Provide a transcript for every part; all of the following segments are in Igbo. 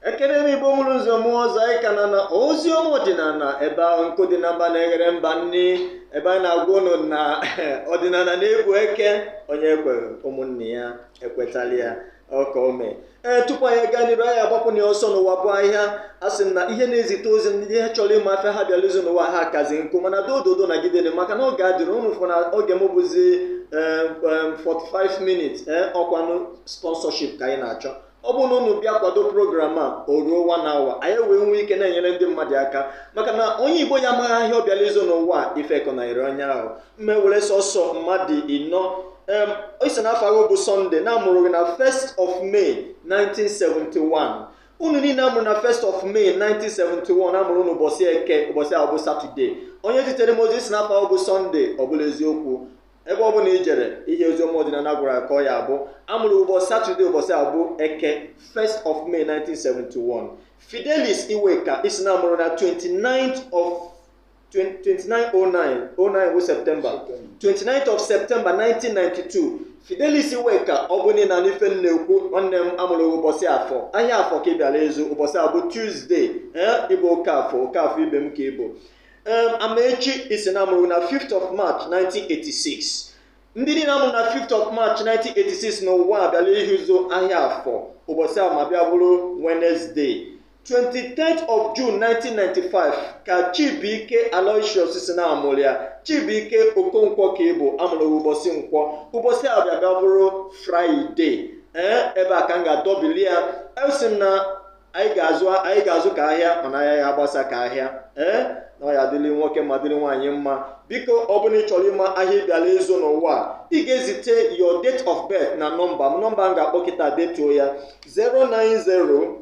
ekene m igbo mụrụ nze mụọ ọzọ anyị ka nọ na ozi ọma ọdịnala ebe ahụ nkụ dị na mba na-eghere mba nri ebe anyị na-agwa ụnụ na ọdịnala na-ebu eke onye ekwere ụmụnne ya ekwetala ya ọka ome ee tupu anyị gaa n'iru anyị agbapụ na ọsọ n'ụwa bụ ahịa a sị na ihe na-ezite ozi ndị ihe chọrọ ịma afịa ha bịara ịzụ n'ụwa ha kazi nkụ mana dododo nagidenụ maka na oge adịghị unu fụ na oge m bụzi 45 minutes ee ọkwanụ sponsorship ka anyị na-achọ ọ bụrụ na unu bịa kwado program a o ruo one hour anyị wee nwee ike na-enyere ndị mmadụ aka maka na onye igbo ya amaghị ahịa ọ bịara ịzụ n'ụwa ifekọ na ire onye ahụ m ewere sọsọ mmadụ ịnọ em ị sị na afa gị bụ sọnde na a mụrụ gị na 1st of May 1971 unu niile a mụrụ na 1st of May 1971 a mụrụ unu ụbọchị eke ụbọchị ahụ bụ satọde onye zitere m ozi ị sị na afa gị bụ sọnde ọ bụla eziokwu ebe ọ bụla i jere ihe oziọma ọdịnala gwara gị ka ọ ya-abụ a mụrụ ụbọchị satọde ụbọchị ahụ bụ eke 1st of May 1971 Fidelis Iweka ị sị na a mụrụ gị na 29th of 2909 09 bụ septemba 29th of septemba 1992 fidelis iweka ọ bụ na ị na-anụ ife m na-ekwu nwanne m a mụrụ ụbọchị afọ ahịa afọ ka ị bịara ịzụ ụbọchị ahụ bụ tuzdee ee ị bụ oke afọ oke afọ ibe m ka ị bụ Em, amaechi ị sị na a mụrụ na 5th of march 1986 ndị niile a mụrụ na 5th of march 1986 n'ụwa bịala ịzụ ahịa afọ ụbọchị ahụ ma bịa bụrụ wenezdee 23 of June 1995 ka Chibuike Aloysius sị na a mụrụ ya Chibuike Okonkwo ka ị bụ a mụrụ ụbọchị nkwọ ụbọchị a bịa bụrụ Fraịde ee ebe a ka m ga-adọbili ya asị m na anyị ga-azụ anyị ga-azụ ka ahịa mana anyị aya agbasa ka ahịa ee na ọ ya-adịrị nwoke mma dịrị nwaanyị mma biko ọ bụrụ na ị chọrọ ịma ahịa ị bịala ịzụ n'ụwa ị ga-ezite your date of birth na nọmba m nọmba m ga-akpọ kịta detuo ya 090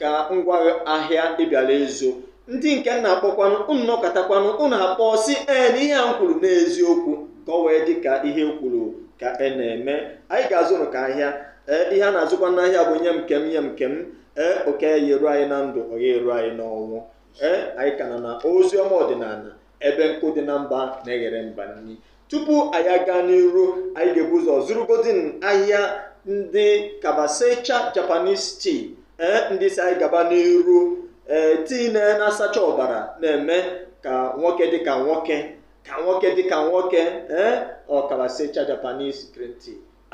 ka m gwa gị ahịa ị bịara ịzụ ndị nke m na-akpọkwanụ unu nọkatakwanụ unu akpọ sị ee na ihe a m kwuru n'eziokwu ka ọ wee dị ka ihe m kwuru ka a na-eme anyị ga-azụrụ ka ahịa ee ihe a na-azụkwa n'ahịa bụ nye m nke m nye m nke m ee oke ya eru anyị na ndụ ọ ya eru anyị n'ọnwụ ee anyị ka nọ na ozi ọma ọdịnala ebe nkụ dị na mba na-eghere mba nri tupu anyị aga n'iru anyị ga-ebu ụzọ zụrụgodi ahịa ndị kabasecha japanese tea ee ndị sị anyị gaba n'iru ee tii na na-asacha ọbara na-eme ka nwoke dị ka nwoke ka nwoke dị ka nwoke ee ọ kabasecha japanese green tea